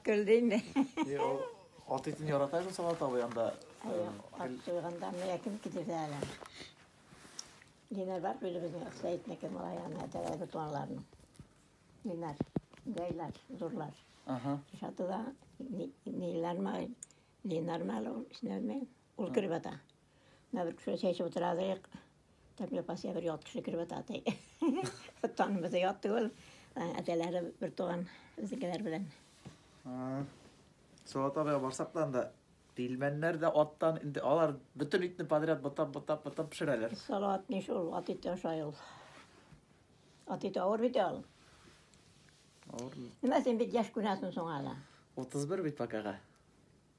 Көлде инде. Ни ул ат итен ярата бит Салат абый анда. Ат суйганда менә кем кидерде әле. Динар бар бит безнең Сәетнеке малай ана тәвә бутмаларның. Динар, гайлар, зурлар. Ага. Шатыда Нилар мал, Динар мал, ишнәме? Ул кереп ята. Менә бер кеше чәчеп утыра дык. Тәмле пасия бер ят кеше кереп ята ди. Танымы да ят түгел. Әтәләре бер туган үзгеләр белән. Салат абыйга барсак та анда пилмәннәр дә аттан инде алар бөтен итне подряд бутап бутап бутап пешерәләр. Салат ни шул ат ите ашай ул. Ат ите авыр бит ул. Авыр. Менә син бит яшь күнәсен соң әле. 31 бит пока.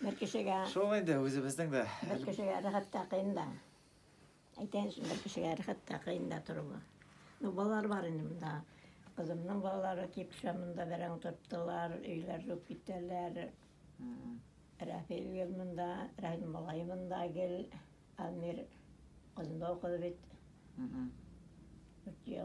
Бер кешегә... Шул инде, үзебезнең дә. Бер кешегә рәхәт тә кыен да. Әйтәйен өчен, бер кешегә рәхәт тә кыен да торуы. Ну, балалар бар инде монда. Кызымның балалары кип шамында бәрәң тоттылар, өйләр жуп китәләр. Рәфил гел монда, Рәхил малай монда гел. Амир кызында укыды бит. Үтел.